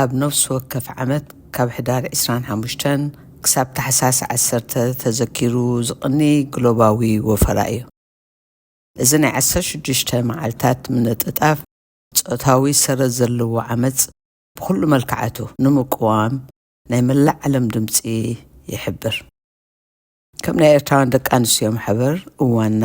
ኣብ ነፍሲ ወከፍ ዓመት ካብ ሕዳር ዕስራን ሓሙሽተን ክሳብ ታሕሳስ ዓሰርተ ተዘኪሩ ዝቕኒ ግሎባዊ ወፈራ እዩ። እዚ ናይ ዓሰርተ ሽዱሽተ መዓልታት ምንጥጣፍ ጾታዊ ሰረት ዘለዎ ዓመጽ ብኹሉ መልክዓቱ ንምቅዋም ናይ መላእ ዓለም ድምጺ ይሕብር። ከም ናይ ኤርትራውያን ደቂ ኣንስትዮ ማሕበር እዋንና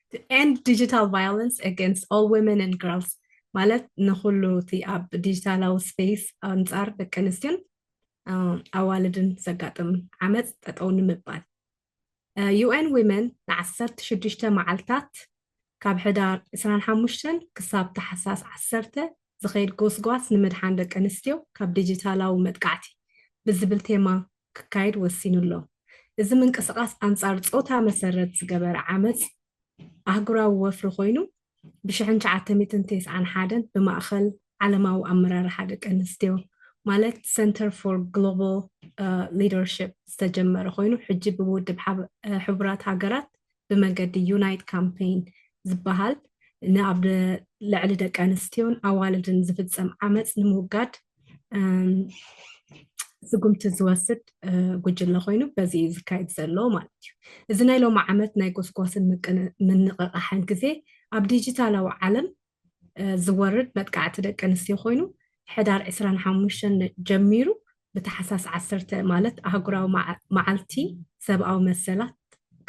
ኤንድ ዲጂታል ቫዮለንስ ኣጋንስት ኦል ዊመን ኤንድ ግርልስ ማለት ንኹሉ እቲ ኣብ ዲጂታላዊ ስፔስ ኣንፃር ደቂ ኣንስትዮን ኣዋልድን ዘጋጥም ዓመፅ ጠጠው ንምባል ዩኤን ዊመን ን16 መዓልታት ካብ ሕዳር 25 ክሳብ ታሕሳስ 10 ዝኸይድ ጎስጓስ ንምድሓን ደቂ ኣንስትዮ ካብ ዲጂታላዊ መጥቃዕቲ ብዝብል ቴማ ክካየድ ወሲኑ'ሎ። እዚ ምንቅስቓስ ኣንጻር ጾታ መሰረት ዝገበረ ዓመጽ ኣህጉራዊ ወፍሪ ኮይኑ፣ ብ ሽሕን ትሽዓተ ሚእትን ተስዓን ሓደን ብማእከል ዓለማዊ ኣመራርሓ ደቂ ኣንስትዮ ማለት Center for Global Leadership ዝተጀመረ ኮይኑ ሕጂ ብውድብ ሕቡራት ሃገራት ብመገዲ ዩናይት ካምፔይን ዝበሃል ንኣብ ልዕሊ ደቂ ኣንስትዮን ኣዋልድን ዝፍፀም ዓመፅ ንምውጋድ ስጉምቲ ዝወስድ ጉጅለ ኮይኑ በዚ እዩ ዝካየድ ዘሎ ማለት እዩ እዚ ናይ ሎሚ ዓመት ናይ ጎስጓስን ምንቕቓሕን ግዜ ኣብ ዲጂታላዊ ዓለም ዝወርድ መጥቃዕቲ ደቂ ኣንስትዮ ኮይኑ ሕዳር ዕስራን ሓሙሽተን ጀሚሩ ብታሕሳስ ዓሰርተ ማለት ኣህጉራዊ መዓልቲ ሰብኣዊ መሰላት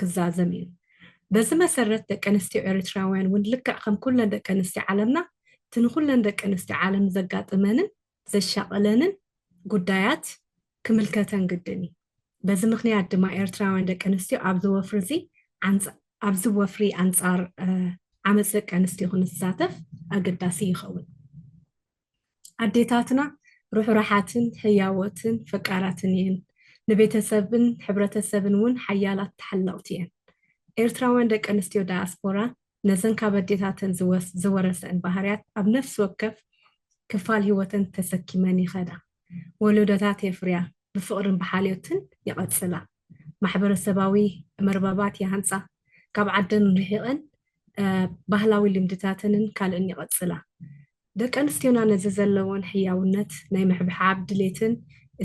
ክዛዘም እዩ። በዚ መሰረት ደቂ ኣንስትዮ ኤርትራውያን እውን ልክዕ ከም ኩለን ደቂ ኣንስትዮ ዓለምና እቲ ንኩለን ደቂ ኣንስትዮ ዓለም ዘጋጥመንን ዘሻቕለንን ጉዳያት ክምልከተን ግድን እዩ። በዚ ምኽንያት ድማ ኤርትራውያን ደቂ ኣንስትዮ ኣብዚ ወፍሪዚ ኣብዚ ወፍሪ ኣንጻር ዓመፅ ደቂ ኣንስትዮ ክንሳተፍ ኣገዳሲ ይኸውን። ኣዴታትና ርሑራሓትን ህያዎትን ፈቃራትን እየን ንቤተሰብን ሕብረተሰብን እውን ሓያላት ተሓለቕቲ እየን ኤርትራውያን ደቂ ኣንስትዮ ዳያስፖራ ነዘን ካብ ኣዴታተን ዝወረሰእን ባህርያት ኣብ ነፍሲ ወከፍ ክፋል ህይወተን ተሰኪመን ይኸዳ። ወለዶታት የፍርያ፣ ብፍቕርን ብሓልዮትን ይቐጽላ፣ ማሕበረሰባዊ መርበባት ይሃንጻ፣ ካብ ዓደን ርሒቐን ባህላዊ ልምድታተንን ካልእን ይቐጽላ። ደቂ ኣንስትዮና ነዚ ዘለወን ሕያውነት ናይ ምሕብሓብ ድሌትን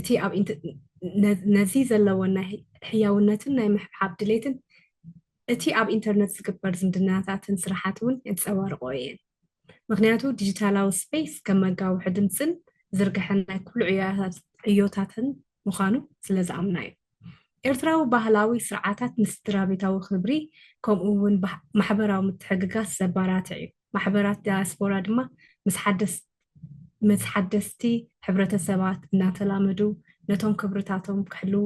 እቲ ኣብ ነዚ ዘለወን ናይ ሕያውነትን ናይ ምሕብሓብ ድሌትን እቲ ኣብ ኢንተርነት ዝግበር ዝምድናታትን ስራሓት እውን የንፀባርቕኦ እየን። ምኽንያቱ ዲጂታላዊ ስፔስ ከም መጋውሒ ድምፅን ዝርግሐን ናይ ኩሉ ዕዮታትን ምዃኑ ስለ ዝኣምና እዩ። ኤርትራዊ ባህላዊ ስርዓታት ንስድራቤታዊ ክብሪ ከምኡ እውን ማሕበራዊ ምትሕግጋስ ዘባራትዕ እዩ። ማሕበራት ዳያስፖራ ድማ ምስ ሓደስ ምስ ሓደስቲ ሕብረተሰባት እናተላመዱ ነቶም ክብርታቶም ክሕልዉ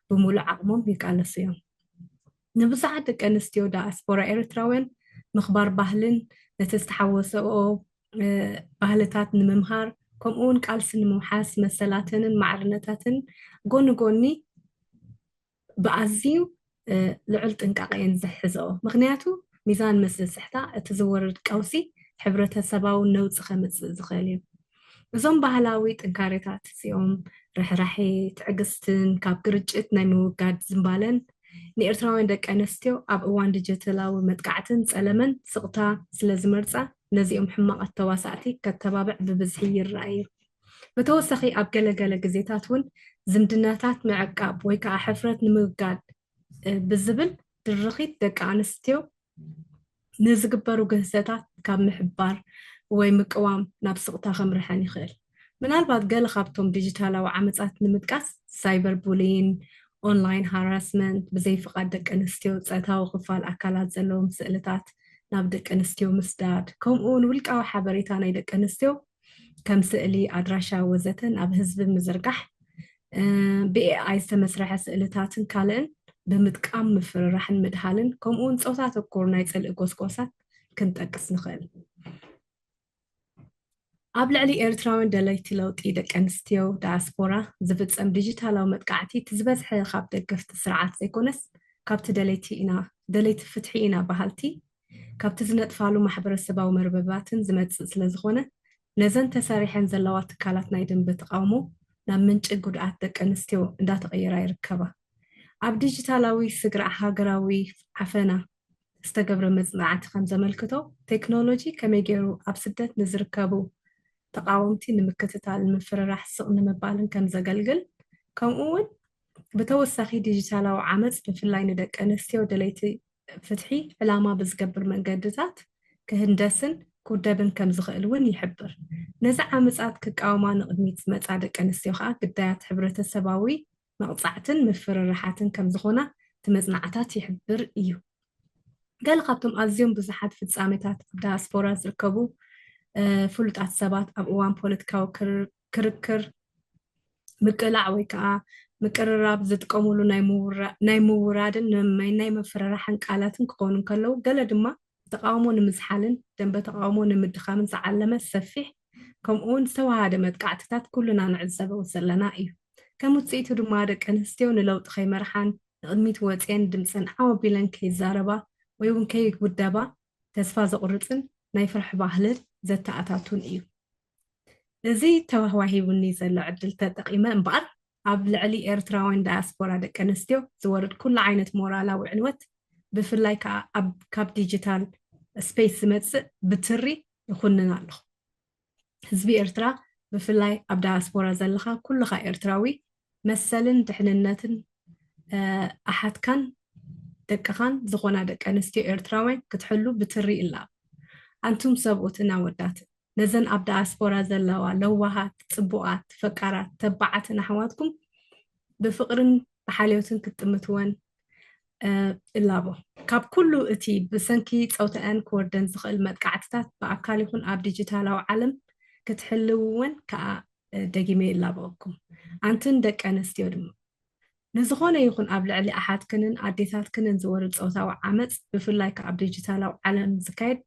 ብምሉእ ዓቕሞም ይቃለሱ እዮም። ንብዙሓት ደቂ ኣንስትዮ ዳያስፖራ ኤርትራውያን ምኽባር ባህልን ነቲ ዝተሓወሰኦ ባህልታት ንምምሃር ከምኡ እውን ቃልሲ ንምውሓስ መሰላተንን ማዕርነታትን ጎኒ ጎኒ ብኣዝዩ ልዑል ጥንቃቐ እየን ዝሕዝኦ ምክንያቱ ሚዛን ምስ ዝስሕታ እቲ ዝወርድ ቀውሲ ሕብረተሰባዊ ነውፂ ከምፅእ ዝኽእል እዩ እዞም ባህላዊ ጥንካሬታት እዚኦም፣ ርሕራሔ፣ ትዕግስትን ካብ ግርጭት ናይ ምውጋድ ዝንባለን፣ ንኤርትራውያን ደቂ ኣነስትዮ ኣብ እዋን ድጀተላዊ መጥቃዕትን ጸለመን ስቕታ ስለ ዝመርጻ ነዚኦም ሕማቓት ተዋሳእቲ ከተባብዕ ብብዝሒ ይርኣ እዩ። ብተወሳኺ ኣብ ገለ ገለ ግዜታት እውን ዝምድናታት ምዕቃብ ወይ ከኣ ሕፍረት ንምውጋድ ብዝብል ድርኺት ደቂ ኣንስትዮ ንዝግበሩ ግህሰታት ካብ ምሕባር ወይ ምቅዋም ናብ ስቕታ ከምርሐን ይኽእል። ምናልባት ገለ ካብቶም ዲጂታላዊ ዓመጻት ንምጥቃስ፣ ሳይበር ቡሊይን፣ ኦንላይን ሃራስመንት፣ ብዘይ ፍቓድ ደቂ ኣንስትዮ ጸታዊ ክፋል ኣካላት ዘለዎም ስእልታት ናብ ደቂ ኣንስትዮ ምስዳድ፣ ከምኡ'ውን ውልቃዊ ሓበሬታ ናይ ደቂ ኣንስትዮ ከም ስእሊ፣ ኣድራሻ ወዘተ ናብ ህዝቢ ምዝርጋሕ፣ ብኤኣይ ዝተመስረሐ ስእልታትን ካልእን ብምጥቃም ምፍርራሕን ምድሃልን ከምኡውን ጾታ ተኮር ናይ ጽልኢ ጎስጓሳት ክንጠቅስ ንኽእል። ኣብ ልዕሊ ኤርትራውያን ደለይቲ ለውጢ ደቂ ኣንስትዮ ዳያስፖራ ዝፍጸም ዲጂታላዊ መጥቃዕቲ እቲ ዝበዝሐ ካብ ደገፍቲ ስርዓት ዘይኮነስ ካብቲ ደለይቲ ኢና ደለይቲ ፍትሒ ኢና በሃልቲ ካብቲ ዝነጥፋሉ ማሕበረሰባዊ መርበባትን ዝመጽእ ስለዝኾነ፣ ነዘን ተሰሪሐን ዘለዋ ትካላት ናይ ደምበ ተቓውሞ ናብ ምንጪ ጉድኣት ደቂ ኣንስትዮ እንዳተቐየራ ይርከባ። ኣብ ዲጂታላዊ ስግረ ሃገራዊ ዓፈና ዝተገብረ መጽናዕቲ ከምዘመልክቶ፣ ቴክኖሎጂ ከመይ ገይሩ ኣብ ስደት ንዝርከቡ ተቓወምቲ ንምክትታል፣ ንምፍርራሕ፣ ስቕ ንምባልን ከምዘገልግል፣ ከምኡ'ውን ብተወሳኺ ዲጂታላዊ ዓመጽ ብፍላይ ንደቂ ኣንስትዮ ደለይቲ ፍትሒ ዕላማ ብዝገብር መንገድታት ክህንደስን ክውደብን ከም ዝኽእል እውን ይሕብር። ነዚ ዓመጻት ክቃወማ ንቕድሚት ዝመጻ ደቂ ኣንስትዮ ከኣ ግዳያት ሕብረተሰባዊ መቕጻዕትን ምፍርራሓትን ከም ዝኾና እቲ መጽናዕታት ይሕብር እዩ። ገለ ካብቶም ኣዝዮም ብዙሓት ፍጻሜታት ኣብ ዳያስፖራ ዝርከቡ ፍሉጣት ሰባት ኣብ እዋን ፖለቲካዊ ክርክር፣ ምቅላዕ ወይ ከኣ ምቅርራብ ዝጥቀሙሉ ናይ ምውራድን ንምመይን ናይ ምፍርራሕን ቃላትን ክኾኑ እንከለዉ፣ ገለ ድማ ንተቓውሞ ንምዝሓልን ደንበ ተቓውሞ ንምድኻምን ዝዓለመ ሰፊሕ ከምኡ'ውን ዝተወሃደ መጥቃዕትታት ኩልና ንዕዘበው ዘለና እዩ። ከም ውጽኢቱ ድማ ደቂ ኣንስትዮ ንለውጢ ከይመርሓን ንቕድሚት ወጽየን ድምጸን ዓው ኣቢለን ከይዛረባ ወይ'ውን ከይውደባ ተስፋ ዘቑርጽን ናይ ፍርሒ ባህልን ዘተኣታቱን እዩ። እዚ ተዋሂቡኒ ዘሎ ዕድል ተጠቒመ እምበኣር፣ ኣብ ልዕሊ ኤርትራውያን ዳያስፖራ ደቀንስትዮ ዝወርድ ኩሉ ዓይነት ሞራላዊ ዕንወት፣ ብፍላይ ከኣ ኣብ ካብ ዲጂታል ስፔስ ዝመጽእ ብትሪ ይኹንን ኣለኹ። ህዝቢ ኤርትራ ብፍላይ ኣብ ዳያስፖራ ዘለኻ ኩልኻ ኤርትራዊ መሰልን ድሕንነትን ኣሓትካን ደቅኻን ዝኾና ደቂ ኣንስትዮ ኤርትራውያን ክትሕሉ ብትሪ እላብ። ኣንቱም ሰብኡትን ኣወዳትን፣ ነዘን ኣብ ዳያስፖራ ዘለዋ ለዋሃት፣ ጽቡቓት፣ ፈቃራት፣ ተባዓትን ኣሕዋትኩም ብፍቕርን ብሓልዮትን ክትጥምትወን እላቦ። ካብ ኩሉ እቲ ብሰንኪ ጸውታኣን ክወርደን ዝኽእል መጥቃዕትታት ብኣካል ይኹን ኣብ ዲጂታላዊ ዓለም ክትሕልውወን ከኣ ደጊመ ይላበወኩም ኣንትን ደቂ ኣነስትዮ ድማ ንዝኾነ ይኹን ኣብ ልዕሊ ኣሓትክንን ኣዴታትክንን ዝወርድ ፆታዊ ዓመፅ ብፍላይ ከዓ ኣብ ዲጂታላዊ ዓለም ዝካየድ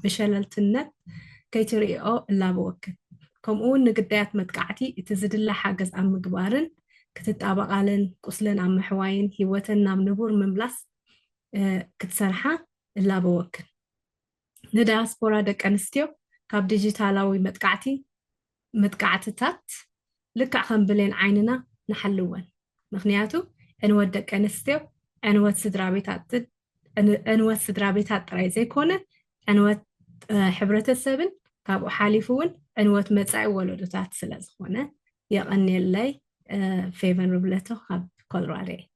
ብሸለልትነት ከይትርእይኦ እላበወክን ከምኡ እውን ንግዳያት መጥቃዕቲ እቲ ዝድለ ሓገዝ ኣብ ምግባርን ክትጣበቓለን ቁስለን ኣብ ምሕዋይን ህይወተን ናብ ንቡር ምምላስ ክትሰርሓ እላበወክን ንዳያስፖራ ደቂ ኣንስትዮ ካብ ዲጂታላዊ መጥቃዕቲ መጥቃዕትታት ልክዕ ከም ብሌን ዓይንና ንሓልወን ምክንያቱ ዕንወት ደቂ ኣንስትዮ ዕንወት ስድራቤታትን ዕንወት ስድራቤታት ጥራይ ዘይኮነ ዕንወት ሕብረተሰብን ካብኡ ሓሊፉ እውን ዕንወት መፃኢ ወለዶታት ስለ ዝኾነ የቐንየለይ ፌቨን ርብለቶ ካብ ኮሎራዶ